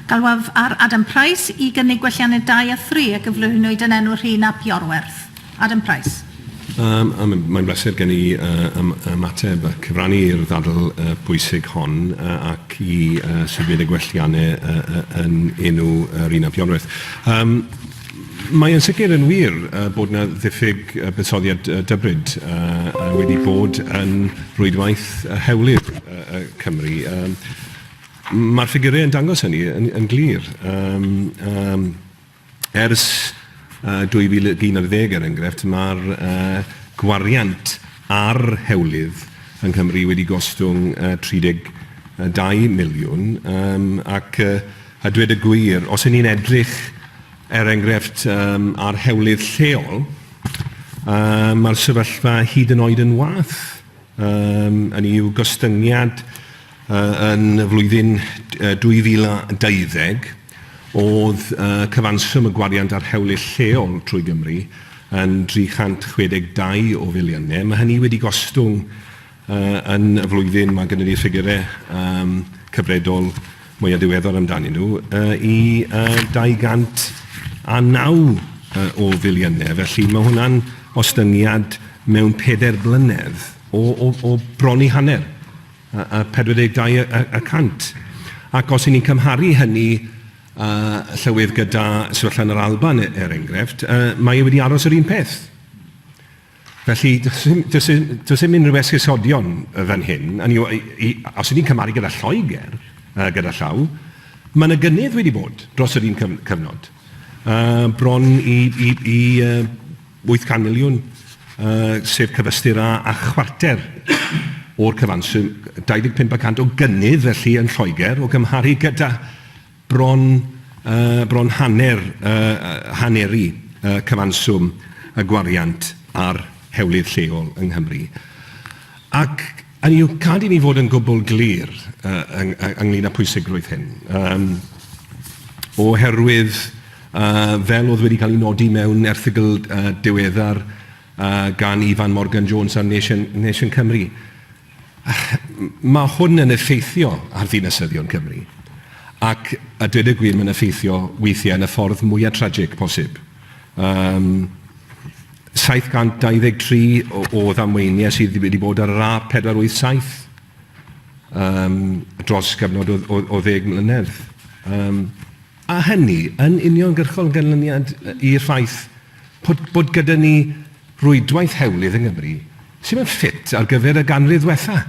Galwaf ar Adam Price i gynnig gwelliannau dau a thri a gyflwynwyd yn enw Rhun ap Iorwerth. Adam Price. Yym, a mae'n mae'n bleser gen i yy ym- ymateb a cyfrannu i'r ddadl yy pwysig hon yy ac i yy symud y gwelliannau yy yy yn enw yy Rhun ap Iorwerth. Yym, mae yn sicr yn wir yy bod 'na ddiffyg yy buddsoddiad yy dybryd yy yy wedi bod yn rwydwaith yy hewlydd yy yy Cymru. Yym. Mae'r ffigurau yn dangos hynny yn glir. Ers 2011, er enghraifft, mae'r gwariant ar hewlydd yng Nghymru wedi gostwng 32 miliwn, ac a dweud y gwir, os 'y ni'n edrych, er enghraifft, ar hewlydd lleol, mae'r sefyllfa hyd yn oed yn wath. Hynny yw, gostyngiad Yn y flwyddyn 2020, oedd cyfanswm y gwariant ar hewlydd lleol trwy Gymru yn 362 o filiynau. Mae hynny wedi gostwng yn y flwyddyn, mae gynnon ni ffigurau cyfredol mwya diweddar amdanyn nhw, i 209 o filiynau. Felly, mae hwnna'n ostyngiad mewn pedair blynedd o bron i hanner. 42 y cant. Ac os 'y ni'n cymharu hynny, yy, Llywydd, gyda sefyllfa yn yr Alban, er enghraifft, yy, mae e wedi aros yr un peth. Felly, does dim, does dim, does dim unrhyw esgusodion fan hyn. Hynny yw, i, i, os 'y ni'n cymharu gyda Lloegr, uh, gyda llaw, mae yna gynnydd wedi bod dros yr un cyfnod. Uh, bron i, i, i uh, Wyth can miliwn, sef cyfystyr â chwarter o'r cyfanswm, 25 y cant o gynnydd felly yn Lloegr o gymharu gyda bron, bron hanner, haneru cyfanswm y gwariant ar hewlydd lleol yng Nghymru. Ac, Hynny yw, gad i ni fod yn gwbl glir ynglŷn â phwysigrwydd hyn. Oherwydd, fel oedd wedi cael ei nodi mewn erthygl diweddar gan Ifan Morgan Jones ar Nation Cymru, mae hwn yn effeithio ar ddinasyddion Cymru, ac a dweud y gwir, mae'n effeithio weithiau yn y ffordd mwya' tragic posib. Yym, 723 o, o ddamweiniau sydd wedi bod ar yr A487 um, dros gyfnod o, o, o ddeg mlynedd. Um, a hynny yn uniongyrchol ganlyniad i'r ffaith bod, bod gyda ni rwydwaith hewlydd yng Nghymru sydd yn ffit ar gyfer y ganrif ddwetha,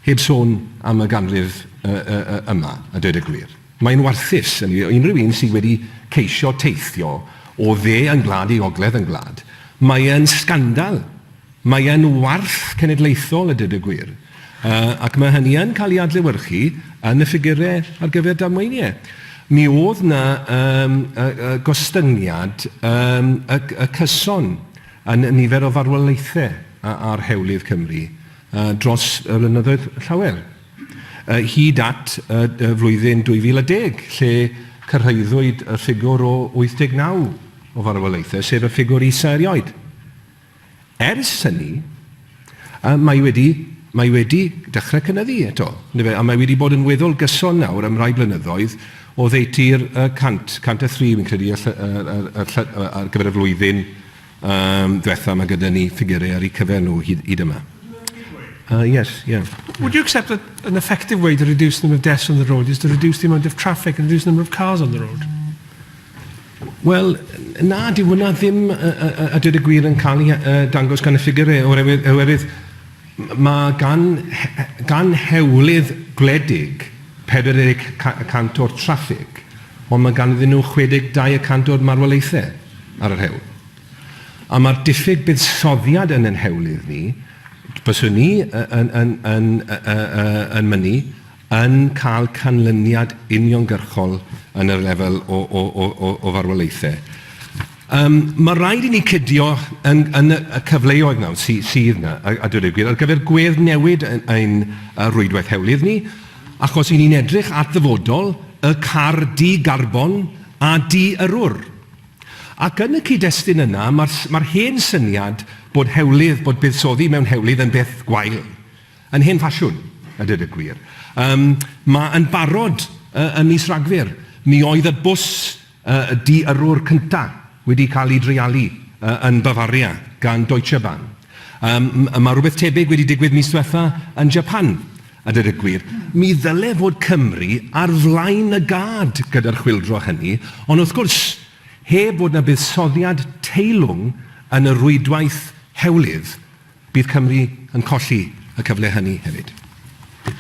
heb sôn am y ganrif uh, uh, uh, yma, a dweud y gwir. Mae'n warthus ynni o unrhyw un sydd wedi ceisio teithio o dde ein gwlad i ogledd ein gwlad. Mae e'n sgandal. Mae e'n warth cenedlaethol a dweud y gwir. Yy ac mae hynny yn cael ei adlewyrchu yn y ffigurau ar gyfer damweiniau. Mi oedd 'na yym yy yy gostyngiad yym y y cyson yn y nifer o farwolaethau a- ar hewlydd Cymru yy dros y blynyddoedd llawer. hyd at y flwyddyn 2010, lle cyrhaeddwyd y ffigwr o 89 o farwolaethau, sef y ffigwr isa erioed. Ers hynny, mae wedi, mae wedi dechrau cynyddu eto, a mae wedi bod yn weddol gyson nawr am rai blynyddoedd, oddeutu'r 100, 103 fi'n credu, ar gyfer y flwyddyn Yym, dwetha, mae gyda ni ffigyrau ar eu cyfer nhw hyd, hyd yma. Uh, yes, yeah. Would you accept that an effective way to reduce the number of deaths on the road is to reduce the amount of traffic and reduce the number of cars on the road? Wel, na, di hwnna ddim a, a, a dweud y gwir yn cael ei uh, dangos gan y ffigurau, oherwydd, oherwydd Mae gan gan hewlydd gwledig 40 y cant o'r traffig, ond mae ganddyn nhw 62 y cant o'r marwolaethau ar yr hewl. A mae'r diffyg buddsoddiad yn ein hewlydd ni, fyswn i yn yn yn yn yn mynnu, yn cael canlyniad uniongyrchol yn y lefel o farwolaethau. Mae rhaid i ni cydio yn y cyfleoedd nawr sydd yna, a dweud y gwir, ar gyfer gwedd newid ein rhwydwaith hewlydd ni, achos 'y ni'n edrych at ddyfodol y car di-garbon a di-yrrwr. Ac yn y cyd-destun yna, mae'r hen syniad bod buddsoddi mewn hewlydd yn beth gwael, Yn hen ffasiwn, a dweud y gwir. Yym, mae yn barod y- ym mis Rhagfyr, mi oedd y bws y- y di-yrrwr cynta' wedi cael ei dreialu y- yn Bavaria gan Deutsche Bahn. Yym, m- mae rhywbeth tebyg wedi digwydd mis dwetha' yn Japan, a dweud y gwir. Mi ddyle fod Cymru ar flaen y gad gyda'r chwyldro hynny, ond wrth gwrs, Heb fod 'na buddsoddiad teilwng yn y rwydwaith hewlydd, bydd Cymru yn colli y cyfle hynny hefyd.